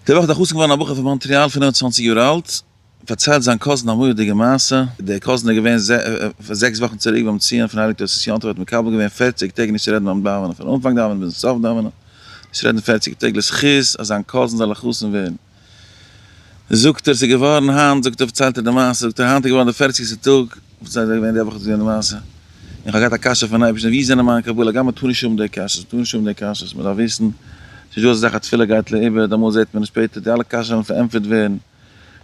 די וואך איז א חתן געווארן א בחור פון מאנטריאל פֿינף און צוואַנציק יאר אלט, פארציילט זיין קאזין א מורא'דיגע מעשה, דער קאזין איז געווען זעקס וואכן צוריק ביים ציון פון הייליג תוס' יום טוב האט מקבל געווען פֿערציק טעג נישט צו רעדן ביים דאווענען פון אנפאנג דאווענען ביזן סוף דאווענען נישט רעדן פֿערציק טעג לזכות אז זיין קאזין זאל א חתן ווערן זאגט ער ס'איז געווארן היינט זאגט ער פארציילט ער די מעשה זאגט ער היינט איז געווארן די פֿערציקסטע טאג פארציילט ער ווען די וואך איז געווען די מעשה. און כ'האב געהאט א קשיא פון אייבערשטען ווי זענען מיינע קבלה גמ' מ'טאר נישט האבן די קשיות מ'טאר נישט האבן די קשיות מ'דארף וויסן ס'איז נישט דא אזא זאך אז תפילה גייט לאיבוד אמאל זעט מען עס שפעטער די אלע קשיות וועלן פארענטפערט ווערן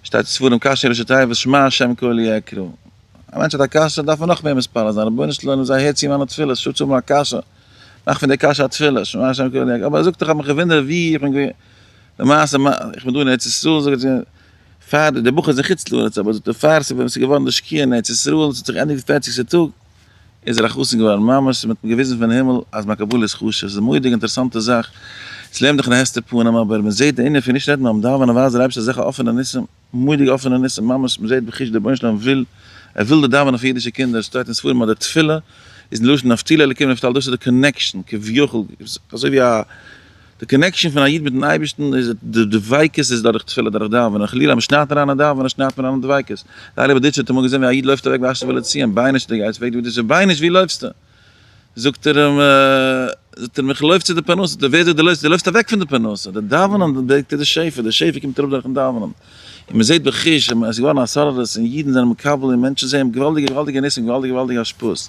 שטייט אין ספרים קשיא ראשי תיבות שמע השם קולי אקרא א מענטש האט א קשיא דארף ער נאך מער מתפלל זיין רבונו של עולם זיי הער צו מיינע תפילות איך זאל נישט האבן א קשיא מאך פון די קשיא א תפילה שמע השם קולי אקרא אבער ער זאגט דאך כ'האב מיך געוואונדערט ווי איך בין געווען למעשה איך בין דא אין ארץ ישראל זאגט פאר די די בחור איז אין חוץ לארץ אבער זאגט ער פאר ס'ווען ס'איז געווארן די שקיעה אין ארץ ישראל און ס'האט זיך געענדיגט די פערציגסטע טאג איז ער א חתן געווארן ממש און מ'האט אים געוויזן פון הימל אז מיין קבלה איז חשוב ס'איז א מורא'דיגע אינטערעסאנטע זאך ס'לערנט דיך אין די העכסטע פנים אבער מ'זעט די ענין פון נישט רעדן ביים דאווענען ווייל ווייזט דער אייבערשטער אזעלכע אפענע ניסים מורא'דיגע אפענע ניסים ממש מ'זעט בחוש דער רבונו של עולם וויל ער וויל די דאווענען פון אידישע קינדער שטייט אין ספרים אז די תפילה איז מלשון נפתלי אלקים נפתל דאס איז די קאנעקשאן כביכול אזוי ווי א די קאנעקשאן פון א איד מיטן אייבערשטן איז די דביקות איז דורך תפילה דורך דאווענען חלילה מען שניידט אריין אין דאווענען און שניידט מען אריין אין דביקות די אלי באדיטשער האט אמאל געזען ווי א איד לויפט אוועק וואשט זיך וויל ער ציען ביינער'שט די גייסט פרעגט די באדיטשער ביינער'שט ווי לויפסטו זאגט ער אים זאגט ער אים איך לויף צו די פרנסה זאגט ער ווער זאגט דו לויפסט דו לויפסט אוועק פון די פרנסה די דאווענען ברענגט די שפע די שפע קומט אראפ דורכן דאווענען און מען זעט בחוש אז עס איז געווארן א סארערעס און אידן זענען מקבל און מענטשן זעען געוואלדיגע געוואלדיגע ניסים געוואלדיגע געוואלדיגע השפעות.